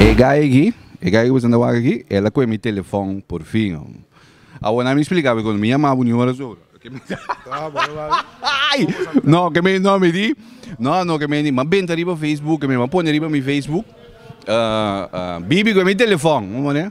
E guy aki, e guy cu bo santa wak aki, el a coge mi telefon por fin, hombre. Awor mi splica bo, cuando mi yama bo nuhora so, no ke me no mi di, no no ke me di, m'a benta riba Facebook, ke me m'a pone riba mi Facebook, bibi coge mi telefon, bo mane?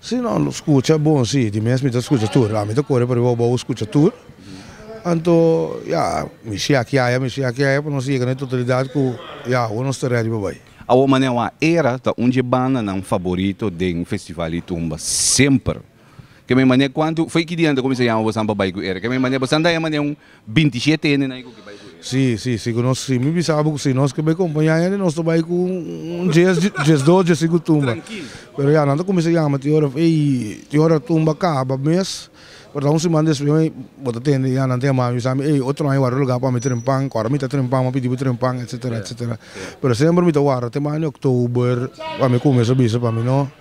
Si no lo scucha bon si di mes mi ta scucha tur ami ta core pariba oba u scucha tur anto ya mi siakiaya mi siakiaya pa nos yega na e totalidad cu ya awo nos ta ready pa bay. Awo Manewah era ta un dje bandanan faborito den Festival di Tumba semper. Keme mane kuantu fei ki dia nan ta kuminsa yama bosan pa bai ku Ere? Keme mane bosan ta haya mane un bintisyete hende nan ku ke bai ku Ere? Si, si, si ku nos si. Mi bisa bo ku si. Nos ke bai kompa ñaña di nos ta bai ku un djes, djes dos, djes sinku tumba. Pero ya nan ta kuminsa yama tin ora fei, tin ora tumba kaba mes, por ta un siman despues mi bo ta tende ya nan ta yama mi bisambi ey otro aña ward'e lugar pa mi trempan, ku ora mi ta trempan mi a pidi bo trempan etcetera, etcetera. Pero semper mi ta warda te mane october pa mi kuminsa bisa pa mi no.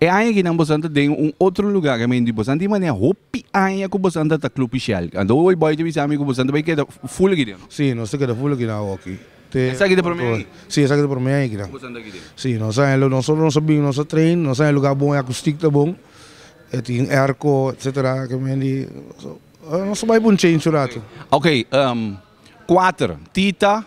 E aña akinan bosan ta den un otro lugar ke men di bosan tin manera hopi aña ku bosan ta ta Club Ishel. Anto hoy Boy ta bisa mi ku bosan ta bai keda full aki den. Si, nos ta keda full aki den awoki. Te Esaki ta prome aña? Si, esaki ta prome aña aki den. Ku bosan ta aki den. Si, nos a haña lo nosotros nos a bini, nos a train, nos a haña lugar bon, e akustik ta bon, e tin airco etc. Ke men di nos a bai por un change un ratu. Oke, kuater, Tita,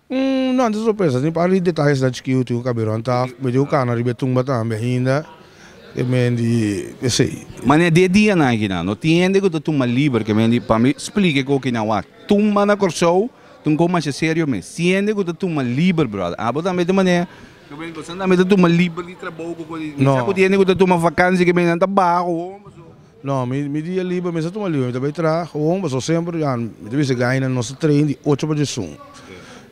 Umm, no antes lo pensa tin pari detalesnan chikí hu tin un kaberon ta mete un kana riba e tumba tambe ainda, ke men di esei. Mane de dianan akinan no tin hende ku ta tuma liber, ke men di pa mi splika e koki nan wak. Tumba na Kòrsou ta un kos masha serio mes, tin hende ku ta tuma liber bròda, abo tambe ta mane, ke men di kos nan tambe ta tuma liber di trabou ku ko di, misa ku tin hende ku ta tuma vakansi ke men nan ta baha ku homber so. No, mi mi dia liber, mi sa tuma liber, mi ta bai traha, gewoon pasobra semper ya mi ta bisa guy nan nos ta train di ocho pa diesun,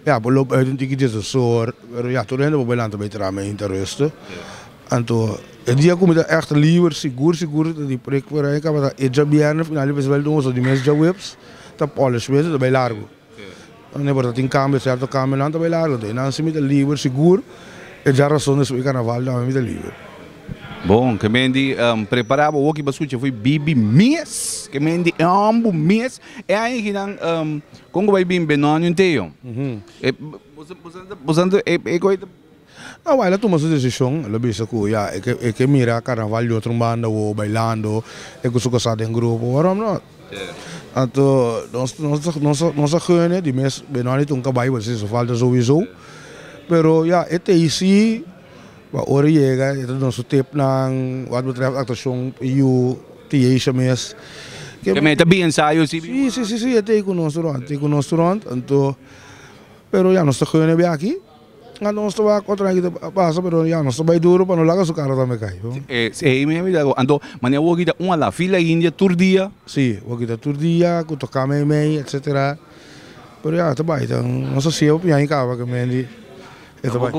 ya por lo buiten un tiki dies dos or, pero ya tur hende por bai lanta bai traha mi a hinta ruste, anto e dia ku mi ta echt liber sigur sigur ta di preek, pero a e tabata e djabièrnè final di festival di un hoso di mes djaweps ta polish mes, mi ta bai largu. Nan e por ta tin cambio cierto cambio nan ta bay largo entonces nan si mi ta liber sigur e dja razon despues di carnaval tambe mi ta liber. Bon ke mendi prepara bo woki pa scucha fo'i bibi mes ke mendi ambu mes e aña aki nan con cu bay bin benoni un teyo boso boso nan ta boso nan ta e coye ta. Awai lo tuma su desishon, lo bisa ku ya e ke mira karnaval di otro un banda awo bailando e ku su kosá den grupo, waarom no? Anto nos a gene di mes Benoani tun ka bai pasobra si su falta souisou, pero ya e tei si pa ora yega e ta duna su tipnan wak betrèf aktashon i yu tiesha mes. Ke men e ta bini ensayo si bin wak? Si si si e tei ku nos rònt, e tei ku nos rònt, anto pero ya nos ta gene biaki. Anto nos ta wak otro hende ta pasa pero ya nos ta bai duro pa no laga su karo tambe kai bo. Si ey mihua di ago anto mane wok kita un ala fila india tur dia. Si wok kita tur dia ku toka meimei etc pero ya ta bai ta nos ta siye opian i kaba ke men di e ta bai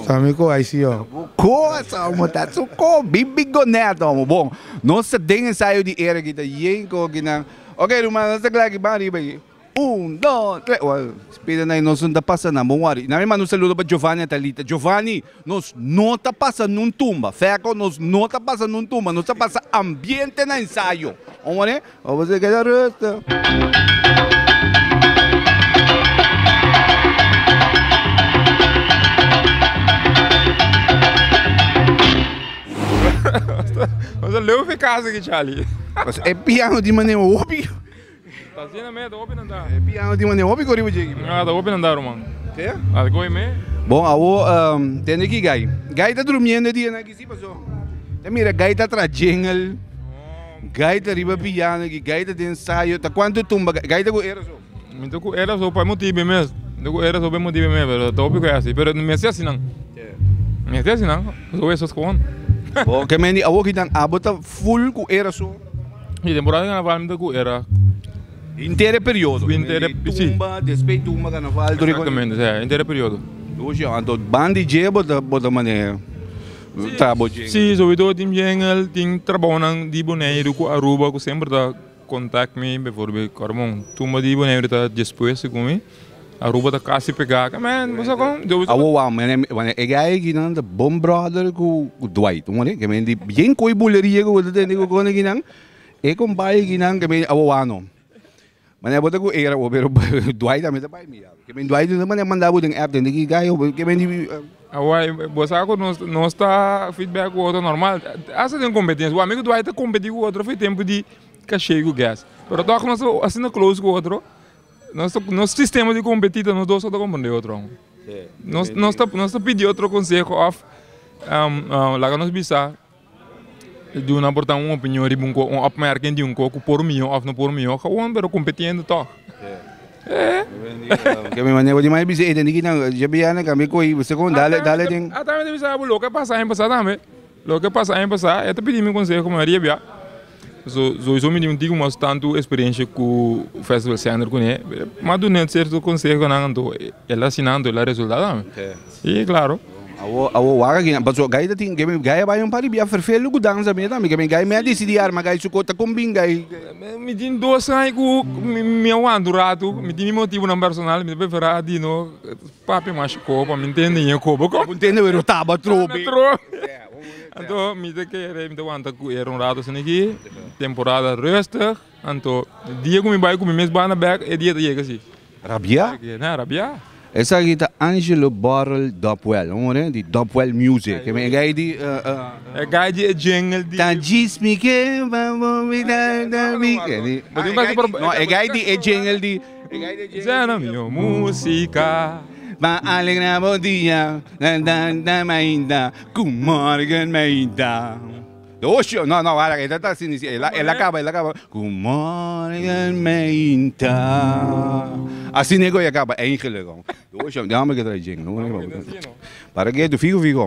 ta mi ko ai si yo. Ta bo kos amo ta su ko bin big gonet amo bon nos ta den ensayo di era kita yey ko kinan ok ruman nos ta kla ki ban riba aki. Un, do, tre, wou. Spera na e nos no ta pasa nan, bon wòri. Na mima nos ta luda pa Giovanni a Talita, Giovanni, nos no ta pasa nun tumba. Fèko, nos no ta pasa nun tumba, nos ta pasa ambiente na ensayo. Bon wòri, eh? Wou boso a keda rustu. Nos ta leu fe kasa aki, Charlie. Boso e piano di manera hopi. Ta sina me, ta hopi nan da. E piano tin manera hopi go riba djeki bro. Ah, ta hopi nan da ruman. Te? Al goi me. Bon, awo tende ki Guy. Guy ta durmiendo e dia nan aki si, paso ta mira Guy ta tra djengel, Guy ta riba piano aki, Guy ta den ensayo, ta cuanto e tumba Guy? Guy ta cu era so? Mi ta cu era so pa e motibe mes, mi ta cu era so pa e motibe mes, pero ta hopi cu e hasi, pero mi hasi asinan, Te? mi hasi asinan, paso awor e so scohon. Bon, ke men di awo kinan, abo ta full cu era so? E temporada di Carnaval mi ta cu era. Henter e periodo. Henter e periodo. Dei tumba, despues tumba Carnaval tur e cosnan. Exactamente, sí, henter e periodo. Oye, anto ban di dje bo ta, bo ta maneha traha bo djengel? Sí, sobre todo tin djengel, tin trabaonan di Boneiru cu Aruba cu semper ta contact mi, befoorbeeld, Carmon, tumba di Boneiru ta despues cu mi. Aruba ta casi pega aca man bo sa con yo bisa. Awo wou man wan e guy aki nan ta bon brother cu Dwight un moren kimen di bien coy buleria cu bo ta tene cu con aki nan e con bay aki nan kimen awo wou no man e bo ta cu era bo pero Dwight a mi ta bay mi ya kimen Dwight un ta manda manda bo den app tende ki guy awo kimen di. Awo bo sa cu nos nos ta feedback cu otro normal asta den competencia wan mi cu Dwight ta competi cu otro fi tempo di cashey cu gas pero tok nos ta asina close cu otro Nos sistema di kompetí ta nos dos so ta komprendé otro aún. Nos ta pidi otro konseho òf laga nos bisa duna por ta un opinion riba un kos, un òpmèr ken di un kos ku por mihó òf no por mihó gewoon, pero kompetiendo tòg. Ke mi manera di mai bisa e den di kinan, dje bianan, kambia kohi, bo se kon dale den. Ata mi ta bisa abo lo ke pasa aña pasá tambe. Loke a pasa aña pasá, e ta pidi mi konseho Maria bia. So so so mi tin un tiko mas tantu eksperensia ku Festival Sender kuné. Mas dun'é un serto konseho ku nan anto el a siná anto el a resultá tambe. I klaro. Awor awor wak aki nan paso Guy ta tin kebe Guy a bai un par di bia Vervelde ku danza mi tambe kebe Guy mi a desidí arma Guy su kos ta kombin Guy. Mi tin dos aña ku mi a wanta un ratu mi tin mi motibunan personal mi ta preferá Dino. Papi masha koba mi ntende ña koba ko. Ntende were taba trobe. Anto mi ta kere mi ta wanta ku era un rato asina aki temporada rustig anto dia ku mi bai ku mi mes banda bek e dia ta yega si. Rabia? Na rabia. Esaki ta Angelo Borrel Dopwell un hora di Dopwell Music e mi gai di E gai di e jingle di Ta djis mi ke ba bo mi da da mi ke di No e gai di e jingle di. Djena mi o musika. Pa alegra bo dia ta ta ta mainta ku morgen mainta Oshi no no wara e ta ta asina e la e la kaba e la kaba ku morgen mainta Asina e goi a kaba Angel e gou Oshi dame ke trae djena Para ke tu figu figu.